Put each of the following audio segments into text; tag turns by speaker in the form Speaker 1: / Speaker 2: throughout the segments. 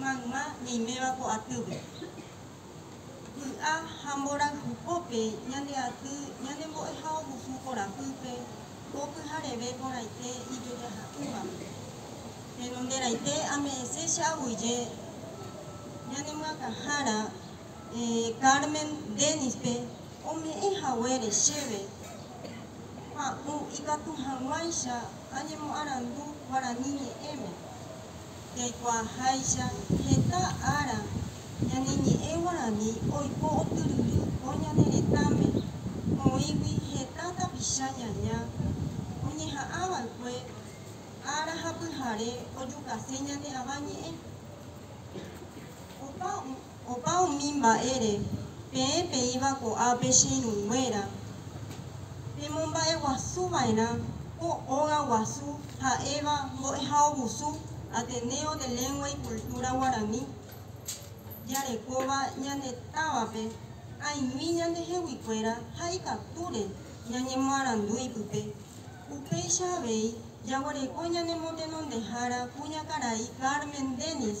Speaker 1: mayma ñaiméva ko atýpe. Vy'a ha mborayhu pópe ñande aty ñane mbo'ehaovusu korapýpe ko pyhareve porãite ijojaha'ỹvagui. Péro nde raite ame'ẽse che aguyje ñane myakãhára Carmen Denispe ome'ẽ haguére chéve pa'ũ ikatu hag̃uáicha añemoarandu guarani ñe'ẽme. Jaikuaaháicha, heta ára ñaneñe'ẽ guarani oiko otyryry ko ñane retãme, oĩgui heta tapicha ñaña oñeha'ãva'ekue ára ha pyhare ojukase ñane Avañe'ẽ. Opa. Opa umi mba'ére peẽ peĩva ko'ápe che irũnguéra, pemomba'eguasu va'erã ko óga guasu ha'éva Mbo'ehaovusu, Ateneo de Lengua y Cultura Guarani, jarekóva ñane távape aĩmi ñande heguikuéra ha ikatúre ñañemoarandu ipype. Upéicha avei, jaguereko ñanemotenondehára kuñakarai Carmen Denis,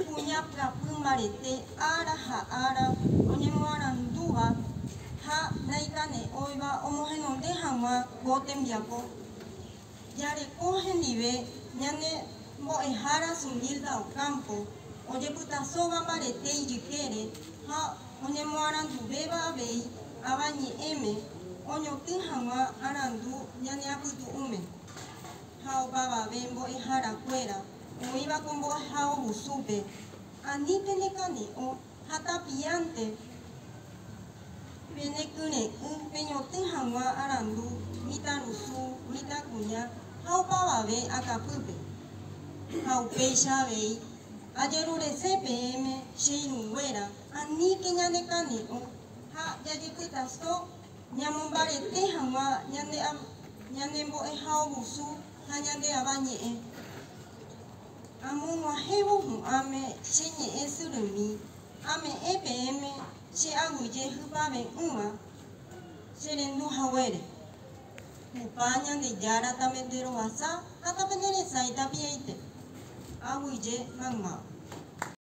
Speaker 1: kuña pyapy mbarete ára ha ára oñemoarandúva ha naikane'õiva omohenonde hag̃ua ko tembiapo. Jareko hendive ñane mbo'ehára Zumilda Ocampo, ojepytasóva mbarete ijykére ha. oñemoaranduvéva avei Avañe'ẽme oñotỹ hag̃ua arandu ñaneapytu'ũme, ha opavave mbo'ehára kuéra oĩva ko mbo'ehao husúpe, ani pene kani'o ha tapiánte pene kyre'ỹ peñotỹ hag̃ua arandu mitãrusu, mitãkuña ha opavave akapýpe, ha upéicha avei Ajerurese peẽme, che irũnguéra, aníke ñanekane'õ ha jajepytaso ñamombarete hag̃ua ñande ñane mbo'ehaovusu ha ñande Ava ñe'ẽ. Amog̃uahẽvo hu'ãme che ñe'ẽ syrymi, ame'ẽ peẽme che aguyje hypave'ỹva che rendu haguére. Tupã Ñandejára tamenderoasa ha tamenderesãi tapiaite. Aguyje mayma.